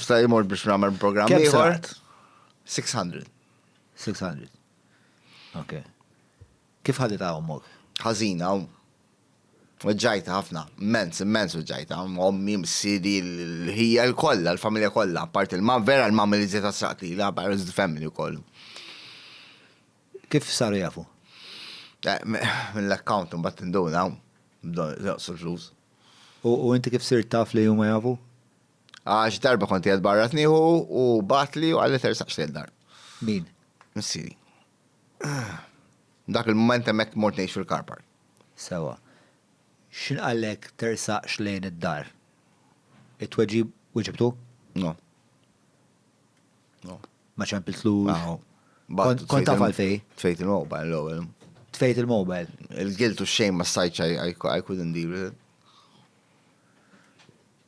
Sta imur biex nagħmel programm ieħor. 600. 600. Ok. Kif ħadit għawmok? Ħażina, Uġġajta ħafna, immens, immens uġġajta, ommi, msidi, l-ħija l-kolla, l-familja kolla, part il-mam, vera l-mam li zeta saqti, la, barriz l-family u kollu. Kif saru jafu? Eh, mill-account un bat induna, bdoq sul-flus. U inti kif sir taf li juma jafu? Għax darba kont jgħed barra tniħu u batli u għalli tersaqx li dar. Min? Missiri. Dak il-moment emmek mort nejx fil-karpar. Sewa. Xin għallek tersaqx lejn id-dar? It-tweġib weġibtu? No. No. Ma ċempiltlu. Kont tafal fej? Tfejt il-mobile l-ewel. Tfejt il-mobile. Il-giltu xejn ma sajċa I couldn't deal with it.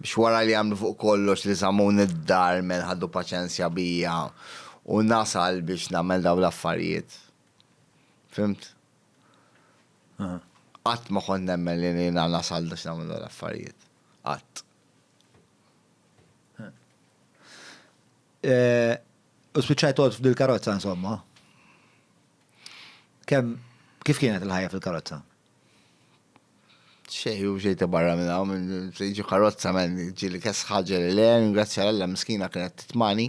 Biex wara li għamlu fuq kollox li żammuni d-dar men ħaddu paċenzja bija u nasal biex nagħmel daw l-affarijiet. Fimt? Qatt ma kont nemmen li jiena nasal biex nagħmel daw l-affarijiet. Qatt. Eh, u spiċċajt għod f'dil-karozza, insomma. Kem, kif kienet il-ħajja fil-karozza? Xej, u xej ta' barra minna, minn ġi karozza men ġi li kess ħagġa li le, ringrazzja l-alla miskina kienet titmani,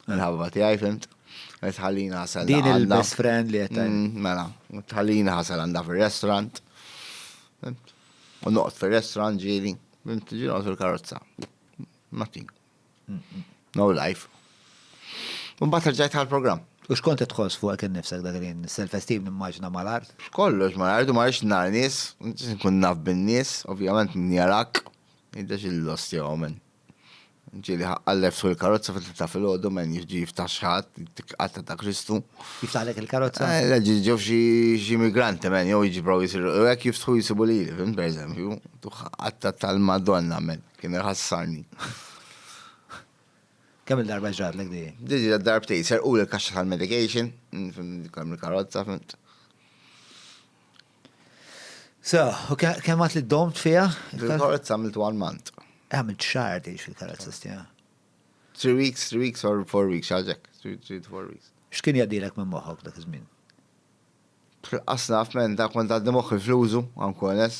nħabba ti għajfimt, tħallina għasal. Din il-best friend li għettaj. Mm, mela, tħallina għasal għanda fil-restaurant, u noqt fil-restaurant ġili, ġili noqt fil-karozza. Matin, No life. Un bat rġajt għal program. U xkont tħoss fuq kien nifsek dak li self-esteem nimmaġna mal-art? Kollox mal-art u ma rix nar nies, nkun naf bin-nies, ovvjament min jarak, jiddex il-lost jew men. Ġili ħaqqallef fuq il-karozza fil ta' fil-ħodu men jiġi jiftaħ xħat, għatta ta' Kristu. Jiftaħlek il-karozza? Eh, Leġi ġew xi migranti men, jew jiġi provi jisiru, u għek jiftħu jisibu li, fim, per eżempju, għatta tal-Madonna men. Kemm iħassarni. Kemm il-darba ġratlek di? Diġi darbtej, serqu l-kaxxa tal-medication, kemm il-karozza, fint. So, u kemm għat li domt fija? Il-karozza għamiltu għal-mant. Eh, għamilt xar di fil-karozza stija. Three weeks, three weeks or four weeks, xaġek, three to four weeks. X'kien jadilek minn moħok dak iż-żmien? Asnaf minn dak kont għaddi moħħi fl-użu, għamku għanes.